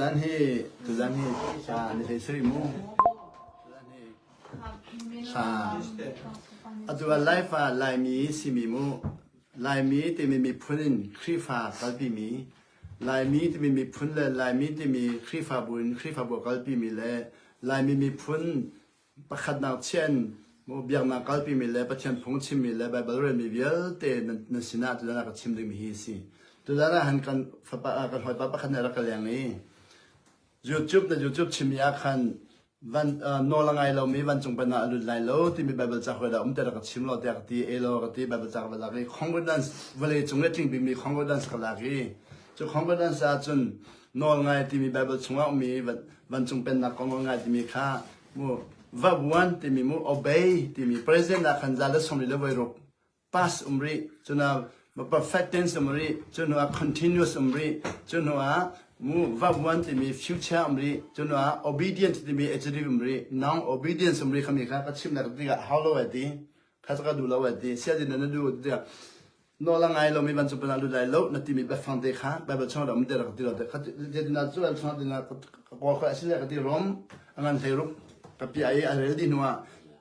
Tuzan hi, tuzan hi hla an i thei soi mu. Tuzan hi hla atu ah Laifa Laimi simi mu Laimi timi miphun in Khrihfa kalpi mi Laimi timi miphun le Laimi timi Khrihfabu in Khrihfabu kalpi mi le Laimi miphun pakhatnak chiah in biaknak kalpimi le Pathian phung chimmi le Baibal relmi vialte nan sinah tutan ah ka chim dingmi hi a si. Tutan ah han kan fapa kan hawipa pakhat nih a rak ka leng i YouTube na YouTube chimmi ah khan van nawl a ngai lomi vancung penah a lut lai lo timi Baibal ca hoi dah um te rak ka chim lo tiah ka ti e lo ka ti Baibal ca ka va lak i concordance vale cung i tling bikmi concordance ka lak i cu concordance ah cun nawl ngai timi Baibal chungah ummi vancung pennak kong a ngai timi kha mu va vuan timi mu obey timi present ah khan za le somri le voi ruk past um rih cuna ma perfect tense um rih cunu ah continuous um rih cunu ah mu va vuan timi future um rih cunu ah obedient timi adjective um rih non obedience um rih khami kha ka chim na ka tikah how lo ai ti kha ka duh lo lai ti sia din na du dia no la ngai lo mi ban chu pana lu dai lo na ti mi ba fang te kha ba ba chong ro mi te ra ti ro te kha de dina chu an chong dina ka ko kha asin ka ti rom angan hlei ru ka pi ai a rel di nuwa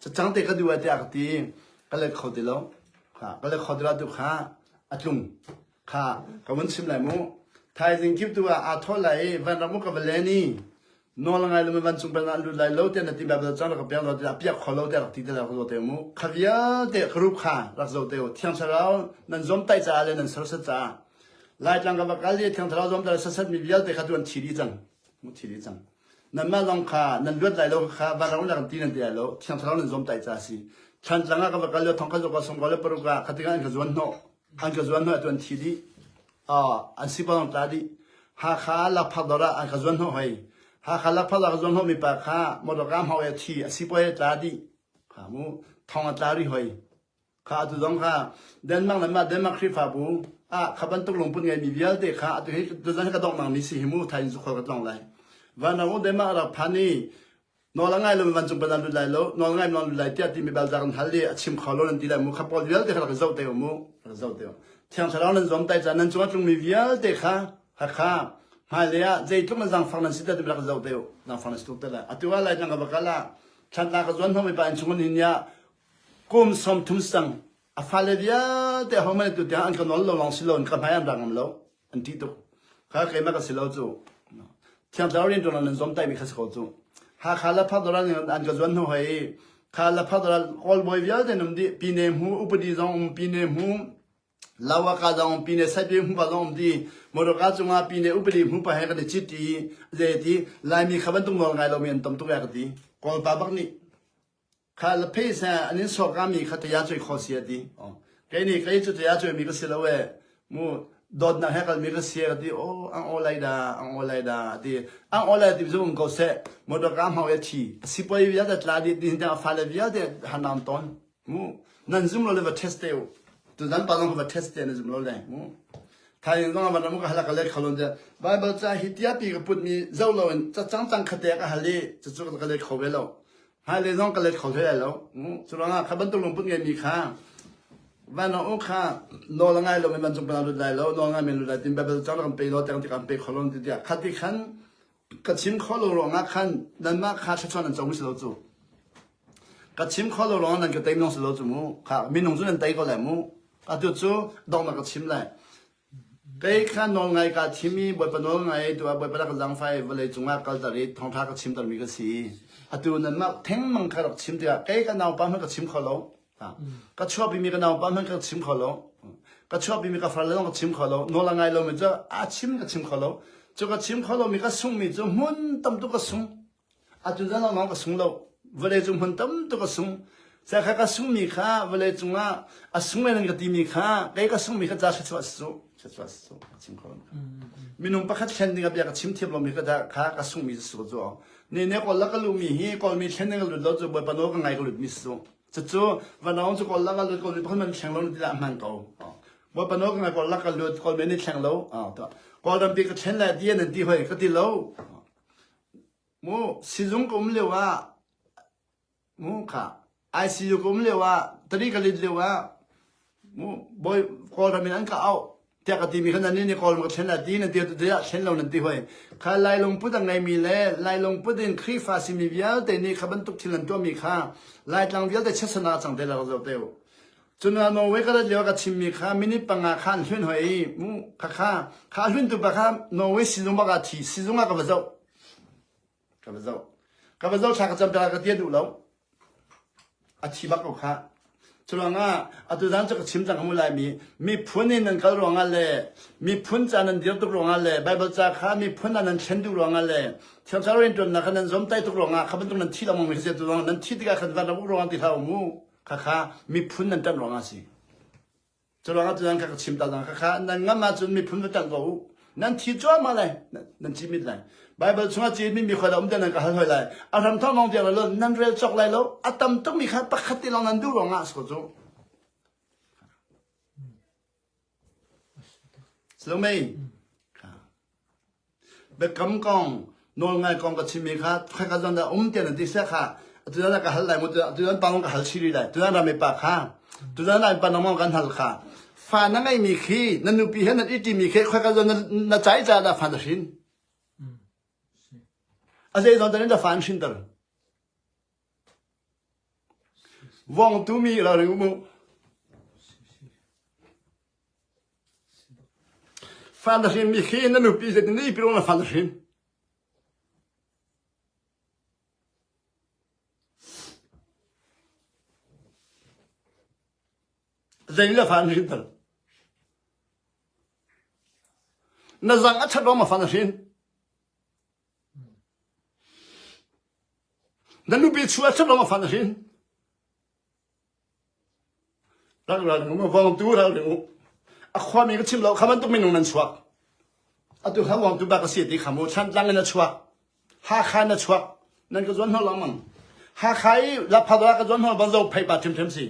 cha chang te ka du ai te ka ti ka le kho ti lo kha ka le kho ti ra tu kha a tlung kha ka mun sim lai mu thaizing kip tu a a tho lai van ramu ka valeni Nawl ngai lo mi vancung pal ah lut lai lo tiah na ti Baibal cang rak ka pek law tiah a piak kho lo tiah rak ti te rak zoh te mu. Kha vialte ka rup kha rak zoh te u. Thiang thlarau nan zomtaih caah le nan serset caah Laitlang ka va kal i thiang thlarau zomta le serset mi vialte kha tu an thi dih cang. Mu thi dih cang. Nanmah lawng kha nan luat lai lo kha van ram le kan ti nan ti lo thiang thlarau nan zomtaih caah si. Thlan tlang ah ka va kal le thongkhat lo ka som ko le paruk ah khating ah an ka zuan hnawh an ka zuan hna tuan thi dih an si pang ta dih Hakha lakphak dor ah an ka zuan hno hoi Hakha lakphak da ka zuan hno mi pa kha motoka hmau e thi asi poi ta dih kha mu thong a tla ri hoi kha atu zong kha Denmark le ma Denmark Khrifa bu a khaban tuk lungpun ngai mi vialte kha atu hi zan ka dok mang ni si himu thain zu khor ka tlong lai van na u Denmark rak phani nawl a ngai lo mi vancung ban an lut lai lo nawl a ngai mi an lut lai tiah ti mi baldak an hal i a chim kho lo nan ti lai mu kha Paul vialte kha rak zoh te u mu rak zoh te u thiang thlarau nan zuam tai caan nan cung a tlung mi vialte kha hakha hmailei ah zeitluk an zangfang nan si te ti rak zoh te u zangfang nan si tuk te lai atu ah lai tang ka bakal ah thlatna ka zuan hong mi pa in chungin hin ya kum som thum sang a fale vialte ho mane tu tiang an ka nol lo long si lo ka hnai an rangam lo an ṭih tuk. Kha kei na ka si lo cu. Thiang Thlarau rianṭuan nan zuam taimi kha si ko cu. Hakha Laphak Doral nih an ka zuan hnu hoi i kha Laphak Doral kawlbawi vialte nan um dih. Pine hmu, upadi zong um, pine hmu, Lawaka zong um, pine saipie hmupa zong um ti. Moroka cungah pine upadi hmu pa he kan i cit i, zei ti, Laimi kha bantuk nawl ngai lomi an tam tuk e ka ti. Kawlpa bak nih kha la pheisa an in sawkami kha taya cuai kho si a ti kei nih kei cu taya cuai mi ka si lo e mu dawtnak he kal mi ka si a ti o ang o lai da ang o lai da ti ang o lai ti zung ko se motor ka mau e thi si poi via da tla di din da fa le via de han nam ton mu nan zum lo le va test te tu dan pa long va test te na zum lo le mu thain zong van mu ka hala ka le khalon de bible cha hi tia pi ka put mi zo lo in cha chang chang khate ka hali chu chu ka le khowe lo Haile zong ka let kho hlei lo. Curuangah kha bantuk lungput ngeimi kha vanong u kha nawl a ngai lo in vancung pangah lut lai lo nawl ngai men lut lai tin Bible cang kan pe lo tiang ti kan pe kho lo ti tiah khati khan ka chim kho lo ruangah khan nanmah kha thluachuah nan cong si lo cu ka chim kho lo ruangah nan ka tei nong si lo cu mu kha minung cu nan tei ko lai mu atu cu dong na ka chim lai Kei kha nawlngaih kaa thim i Bawipa nawlngaih tuah Bawipa rak ka zaangfai vawlei cungah kalter i thawngṭha ka chimtermi ka si. Atu nanmah thengmang kha rak chim tikah kei ka naupa hmanh ka chim kho lo. Ka chuahpimi ka naupa hmanh ka chim kho lo. Ka chuahpimi ka farle zong ka chim kho lo. Nawl a ngai lomi cu a chim ka chim kho lo. Cu ka chim kho lomi ka sungmi cu hmun tam tuk ka sung. Atu zan lawngah ka sung lo. Vawleicung hmun tamtuk a sung. Serkha ka sungmi kha vawleicung ah a sung men ka timi kha kei ka sungmi kha ca thluachuah si suk thluachuah si suk ka chim kho minung pakhat thlen ding a bia ka chim thiam lomi ka dah kha ka sungmi si suk cu ne ne kawl la ka lumi hi kawlmi thlen ding a lut lo cu bawi pano ka ngai ka lut mi si suk cucu vanawng cu kawl la ka lut kawl pakhat man thleng lo ti dah man ko bawi pano ka ngai kawl la ka lut kawl men ni thleng lo to kawl rampi ka thlen la dia nan ti hoi ka ti lo Sizung ka um lioah ICU ka um lioah tari ka lit lioah Kawlram in an ka auh tiah ka timi kha nan nih Kawlram ka thlen lai ti nan ti tete ah thlen lo nan ti hoi. Kha Lai lungput a ngeimi le Lai lungput in Khrihfa simi vialte nih kha bantuk thil an tuahmi kha Laitlang vialte chiatsan ah cang te la ka zoh te u. Cun ah Norway ka rat lio ka chimmi kha minute panga kha an hlun hoi mu khakha kha hluntu pa kha Norway sizung bak ah thi sizung ah ka va zoh ka va zoh ka va zoh thla ka cam ta ka tia duh lo a thi bak ko kha curuangah atu zan cu ka chim cang kamu lai mi miphun in nan kal ruangah le miphun ca nan dir tuk ruangah le bible ca kha miphun ah nan thlen tuk ruangah le thiangthar rian tuannak kha nan zom tai tuk ruangah kha bantuk nan thi lomang mi se tu ruangah nan thi tikah khan van rabuk ruangah ti hla mu khakha miphun nan ṭanh ruangah a si. Curuangah tutan kha ka chim ta khakha nan ngam ahcun miphun va ṭanh ko u. Nan thi cuahmah lai, nan cimit lai. Baibal chungah cimmi mi khoi lo um nan ka hal hoi lai. A hram thawng lawng tiang lo nan rel cok lai lo. A tam tukmi kha pakhat ti lawng nan duh ruangah a si ko cu. Salome Biakam kong nawlngai kong ka chimmi kha khoika zan dah um tiah na ti seh kha atudan na ka hal lai mu atudan pa ka hal chiri lai tudan ram pa kha tudan ram pa nong kan hal kha fa na ngei mi khi na nupi he na i ti mi khi khoika zan na chai cha da fa na hrin a zei zon tan in da fa an hrin tar Vong tumi la ring uh. Fan na hrin mi khi na nupi zeitin nih piro na fan na hrin? Zein le fan hrin tal? Na zang a chat rom a fan na hrin? Na nupi chuah a ṭhat lawng a fa na sin. Tangral minung a vawngtu ral ring u. A khuami ka chim lo kha bantuk minung nan chuak. Atu kha wangtu bak a si ti kha mu Thantlang in a chuak. Hakha in a chuak. Nan ka zuan hnawh lang man. Hakha i Lapha ka zuan hnawh ban zo phei pa ṭhimṭhim si.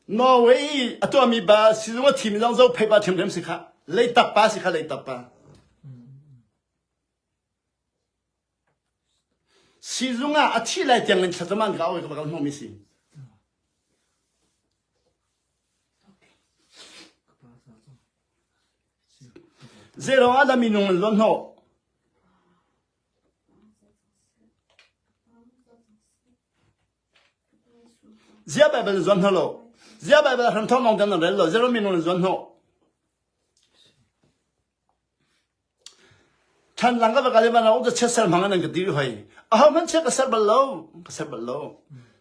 Norway i a tuahmi pa sizung a thimi zong zohphei pa ṭhiamṭhiam si khah. Leitak pa si kha leitak pa. Sizung ah a thih lai tiangin thlacam ah ka awi ka hnawhmi si. Zeirong ah dah minung an luan hnawh? Ziah Baibal in zuam hna law, ziah Baibal hramthawk lawng tiang nan rel law, Jeremy nawl in zuam hnawh. Than lang ka va kale van u chet ser hmang nan ka ti hoi. A ho hmanh che ka ser bal lo, ka ser bal lo.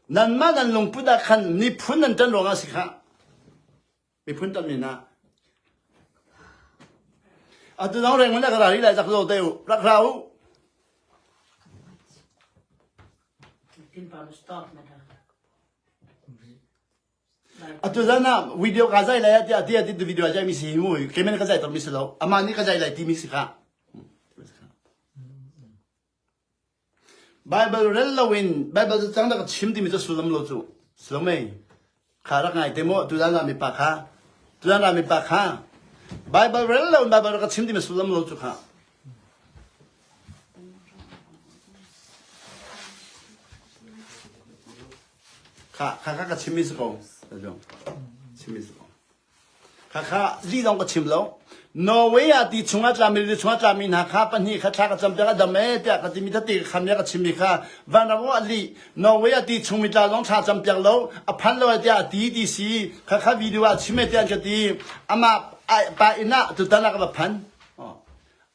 Nan mah nan lungput ah khan miphun nan tan ruangah si kha. miphun tam men ah atu dang rengun le karari lai zak zo te u rak ra u atu zan ah video ka zai lai ti ati ati video jai mi si mu kemen ka zai tor mi si lo ama ni ka zai lai ti mi si ka Baibal rel loin Baibal cacang rak ka chim timi cu sullam lo cu si lo mei? Kha rak ngai te maw tudan ralmipa kha? Tudan ralmipa kha Baibal rel loin Baibal rak ka chim timi sullam lo cu kha. Kha kha kha ka chimmi si ko. Chimmi si ko. Khakha lih zong ka chim lo. Norway ah ti chungah tlami le chungah tlami hna kha pahnih kha thla ka cam piak a dam ee tiah ka timi tete ka khamia ka chimmi kha van ram ah lih Norway ah ti chungmi tla zong thla cam piak lo a phan lo tiah a ti ti si khakha video ah chim ee tiah an ka ti ama pa inn ah tutan ah ka va phan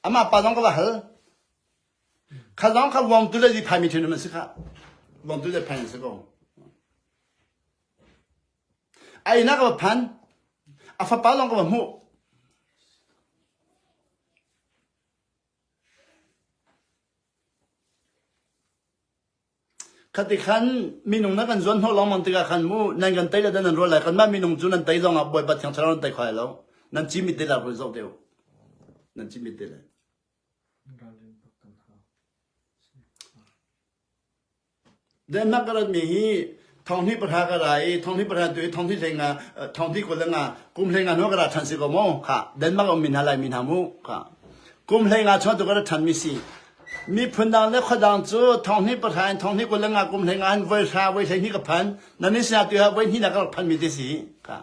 ama pa zong ka va hal kha zong kha wong tu le zi phai mi thin man si kha wong tu le phai si ko Einak a va phan. A fapa lawng ka va hmuh. Khati khan minung na kan zuan hnawh lengmang tikah khan mu nan kan tei le nan rual lai kanmah minung cu nan tei zongah Bawipa Thiang Thlarau nan tei kho lai lo. Nan cimit ti lai rul zoh te u. Nan cimit ti lai. Ralrin tuk kan hau. Denmark ka ratmi hi thawnghnih pahra ka ra i thawnghnih pahra tu i thawnghnih hleng ah thawnghnih kul le nga kum hleng ah nu ka ra ṭhan si ko maw khah Denmark a ummi hna Laimi hna mu khah kum hleng ah chuah tu ka ra ṭhanmi si miphun dang le khua dang cu thawnghnih pahra in thawnghnih kul le nga kum hleng ah an voi hra voi hleihnih ka phan na min sinah tu ah voi hnihnak ka rak phanmi te si khah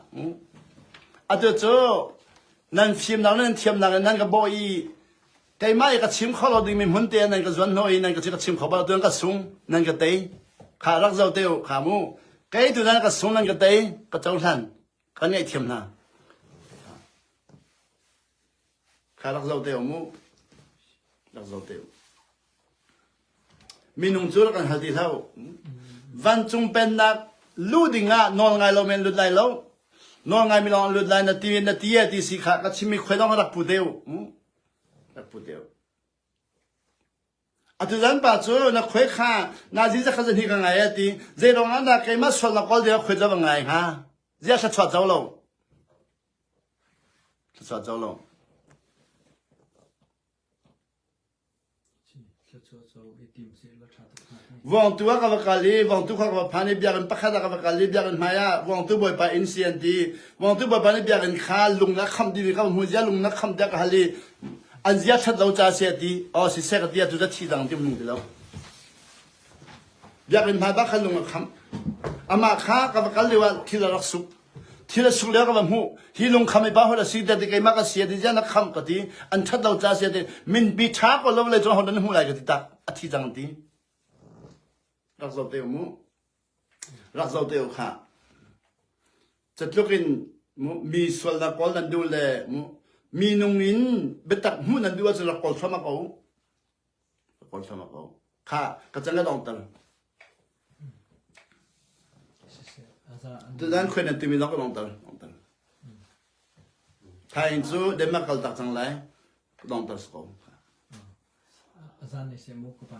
atu cu nan fimnak le nan thiamnak in nan ka bawh i keimah i ka chim kho lo dingmi hmunte ah nan ka zuan hnu i nan ka ka chim kho bal tuan ka sung nan ka tei kha rak zo te u kha mu kei tu nan ka sung nan ka tei ka cohlan ka ngaihthiam hna kha rak zo te u mu rak zo te u minung cu rak kan hal ti hlau vancung pennak lu dingah nawl ngai lo men lut lai lo nawl ngai mi lawng lut lai na ti na ti ti si kha ka chimmi khoi lawng rak pu te u Atutan pa cu na khue kha na zin zakhat zan hi ka ngai a ti. Zeirong ah na keimah sual na kawl deuh khuet lo ngai hnga. Zia thluachuah co lo. Thluachuah co lo. Vawngtu ah ka va kal i vawngtu kha ka va phan i biakinn pakhat ah ka va kal i biakinn hmai ah vawngtu bawipa inn si an ti. Vawngtu bawipa nih biakinn kha lung ah khamh ding ka hmu zia lung na khamh tiah ka hal i an zia thlat lo ca si a ti. Aw si seh ka ti a tu ti dang ti mung ti lo. Biakinn hmai bak khan lung a khamh. Amah kha ka va kal lio ah thil a rak suk. thil a sung le ka va hmuh hi lungkham i pa hola si da ti keimak a si ti ziah na kham ka ti an that lo ca sia ti min bi tha ko lo le chon hon na hmu lai ka ti tak a thi cang ti rak zo te mu rak zo te kha cutlukin mu mi sual na kol nan du le mu mi nung in bitak mu nan du acun rak kol thoma ko ka poi thluamah ko. Kha ka can le dong tang. Tudan khuen timi zong ka dong tang. Dong tang. Thain cu Denmark kal tak cang lai ka dong tang ko. Azan ne se mu ka pa.